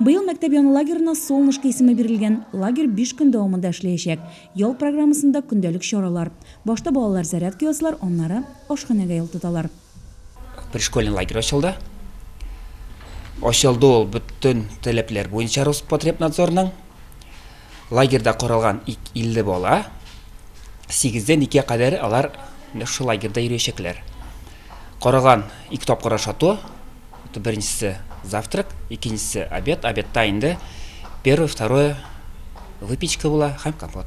Быел мәктәп яны лагерына Солнышко исеме бирелгән. Лагерь биш көн дәвамында эшләячәк. Ял программасында, көндәлек чаралар. Башта балалар зарядка ясыйлар, аннары ашханәгә юл тоталар. Пришкольный лагерь ачылды. Ачылды ул бөтен таләпләр буенча Роспотребнадзорның. Лагерьда каралган 50 бала, сигездән икегә кадәр алар менә шушы лагерьда йөриячәкләр. Каралган ике тапкыр ашату, беренчесе завтрак, икенчесе обед, обедта инде первое, второе выпечка була һәм компот.